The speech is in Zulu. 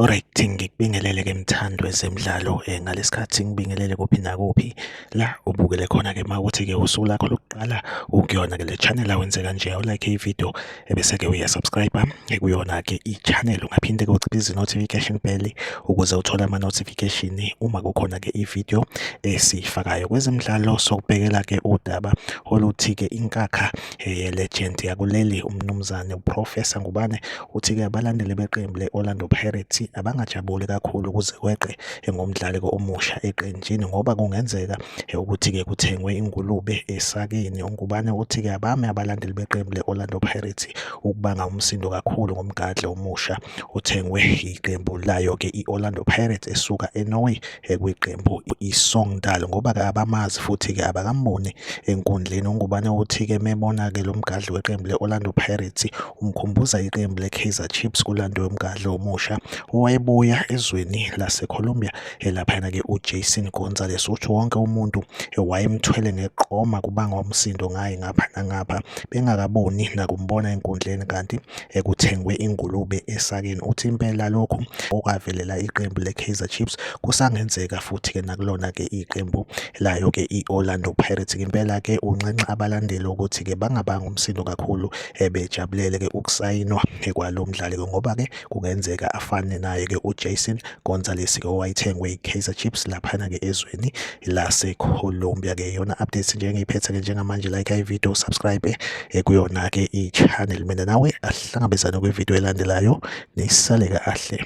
Alright ngikubingelele ke mthando ezemidlalo eh, ngalesikhathi ngibingelele kuphi nakuphi la ubukele khona ke mawuthi ke usuku lakho lokuqala ukuyona ke le channel awenze kanje awulike ivideo ebese-ke uyasubscribe ekuyona-ke i-channel ungaphinde ke uciphe izi-notification bell ukuze uthole ama-notification uma kukhona-ke i-video esiyifakayo kwezemidlalo sokubhekela-ke udaba oluthi-ke inkakha eh, ye-legend yakuleli umnumzane uprofesa ngubane uthi-ke abalandeli beqembu le-orlando pirates abangajabuli kakhulu ukuze kweqe ngomdlali-ke omusha eqenjini ngoba kungenzeka ukuthi-ke kuthengwe ingulube esakeni ungubane uthi-ke abame abalandeli beqembu le-orlando pirates ukubanga umsindo kakhulu ngomgadli omusha uthengwe iqembu layo-ke i-orlando pirates esuka enorway ekwiqembu isongdal ngoba-ke abamazi futhi-ke abakamboni enkundleni ungubane uthi-ke mebona-ke lo mgadli weqembu le-orlando pirates umkhumbuza iqembu le-kaizer chiefs kulandwe umgadli omusha owayebuya ezweni lase-colombia Elaphayana ke uJason Gonzalez uthi wonke umuntu wayemthwele ngeqoma kubanga umsindo ngaye ngapha nangapha bengakaboni nakumbona enkundleni kanti ekuthengwe ingulube esakeni uthi impela lokhu okwavelela iqembu leKaizer Chiefs kusangenzeka futhi ke nakulona ke iqembu layo ke iOrlando Pirates impela ke unxenxa abalandeli ukuthi ke bangabanga umsindo kakhulu ebejabulele ke ukusayinwa kwalomdlali ngoba ke kungenzeka afane naye-ke uJason Gonzalez-ke owayethengwe yi-Kaizer Chiefs laphana-ke ezweni laseColombia-ke iyona update nje engiyiphethe-ke njengamanje like ivideo subscribe eh, kuyona-ke i-channel mina nawe asihlangabezane kwivideo elandelayo nisale kahle